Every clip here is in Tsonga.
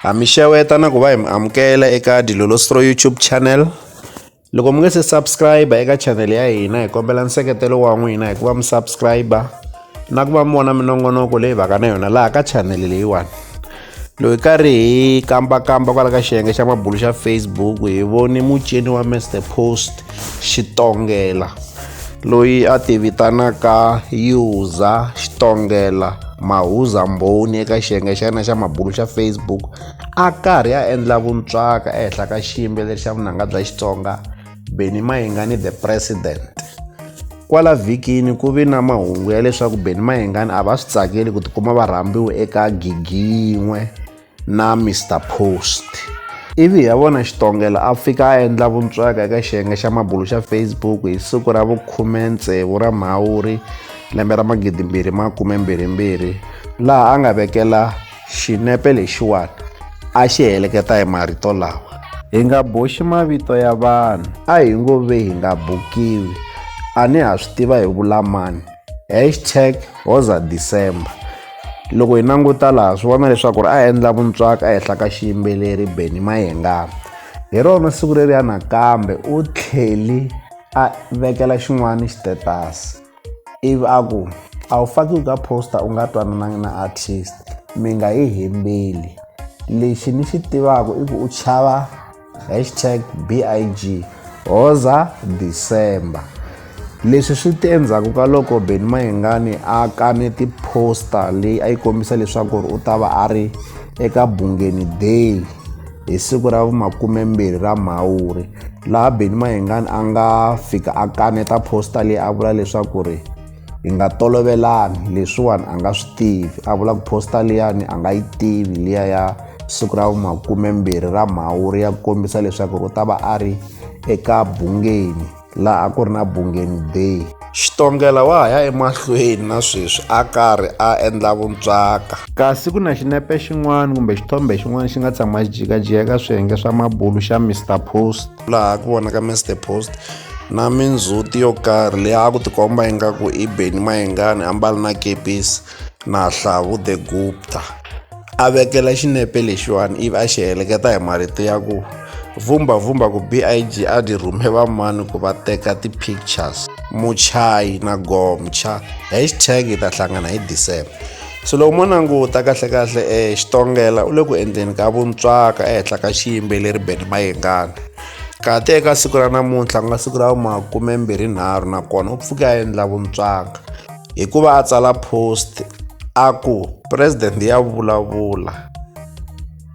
Ha mi xeweta na ku va hi mi amukela eka Dilolostro YouTube channel. Loko mi nga se subscribe eka channel ya hina hi kombela nseketelo wa n'wina hi ku va mi subscribe na ku va mi vona minongonoko leyi vaka na yona laha ka channel leyiwani. Loyi karhi hi kambakamba kwala ka xiyenge xa mabulu xa Facebook hi voni mucini wa Mr Post Xitongela, loyi a tivitanaka Uza Xitongela Mahuza Mbhoni eka xiyenge xa yena xa mabulu xa Facebook a karhi a endla vuntswaka ehenhla ka xiyimbeleri xa vunanga bya Xitsonga Benny Mayengani the President. Kwala vhikini ku vi na mahungu ya leswaku Benny Mayengani a va swi tsakeli ku tikuma va rhambiwe eka gigi yin'we na Mister Post. Ivi hi ya vona Xitongela a fika a endla vuntswaka eka xiyenge xa mabulu xa Facebook hi siku ra vukhume-tsevu ra Mhawuri lembe ra magidi mbirhi makume mbirhi mbirhi laha a nga vekela xinepe lexiwani a xi heleketa hi marito lawa hi nga boxi mavito ya vanhu a hi ngo ve hi nga bukiwi a ni ha swi tiva hi vulamani hashtag hoza december loko hi languta laha swi vona leswaku ri a endla vuntswaka a hehla ka xiyimbeleri beni mayengana hi rona siku leri ya nakambe u tlheli a vekela xin'wana xitetasi ivi a ku a wu fakiwi ka posta u nga twananangi na artist mi nga yi hembeli lexi ni xi tivaka i ku u chava hashtag big hoza december leswi swi te endzhaku ka loko beni mayengani a kane tiposta leyi a yi kombisa leswaku ri u ta va a ri eka bungeni day hi siku ra vumakumembirhi ra mhawuri laha beni mayengani a nga fika a kaneta posta leyi a vula leswaku ri hi nga tolovelani leswiwani a nga swi tivi a vula ku posta liyani a nga yi tivi liya ya siku ra vumakumembirhi ra mhawuri ya kombisa leswaku u ta va a ri eka bungeni laha ku ri na bungeni day xitongela wa ha ya emahlweni na sweswi a karhi a endla vuntswaka kasi ku na xinepe xin'wana kumbe xithombe xin'wana xi nga tshama xi jikajika eka swiyenge swa mabulu xa mr post laha ku vonaka mr post na mindzhuti yo karhi leyi a ku tikomba ingaku i beni mayengani ambali na kepisi na hlavu the gupta a vekela xinepe lexiwani ivi a xi heleketa hi marito ya ku vhumbavhumba ku big a dyi rhume vamani ku va teka ti-pictures muchayi na gomcha hashtag yi ta hlangana hi december so loko mo languta kahlekahle um eh, xitongela u le ku endleni ka vuntswaka ehenhla ka xiyimbeleri beni mayengana kati eka siku ra namuntlha ku nga siku ra makumembirhi nharhu nakona u pfuke a endla vuntswaka hikuva a tsala post a ku president ya vulavula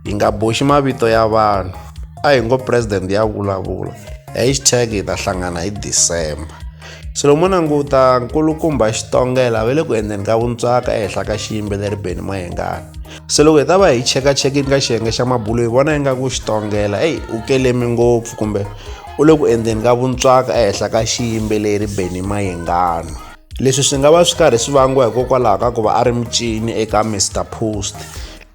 hi nga boxi mavito ya vanhu a hi ngo president ya vulavula hashtag hi ta hlangana hi december swilo mo languta nkulukumba xitongela ve le ku endleni ka vuntswaka ehenhla ka xiyimbeleri beni mahengani se loko hi ta va hi chekachekini ka xiyenge xa mabulo hi vona ingaku xitongela eyi u kelemi ngopfu kumbe u le ku endleni ka vuntswaka ehenhla ka xiyimbeleri beni mahengani leswi swi nga va swi karhi swi vangiwa hikokwalaho ka ku va a ri mucini eka mr post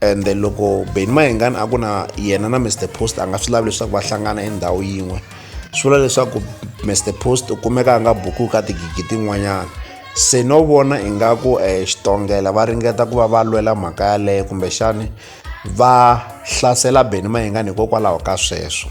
and loko beni mahengani a ku na yena na mr post a nga swi lavi leswaku va hlangana endhawu yin'we swi vula leswaku mr post u kumeka a nga buku ka tigigi tin'wanyana se no vona ingaku um eh, xitongela va ringeta ku va va lwela mhaka yaleyo kumbexani va hlasela beni mahengani hikokwalaho ka sweswo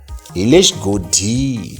hi le xigodini.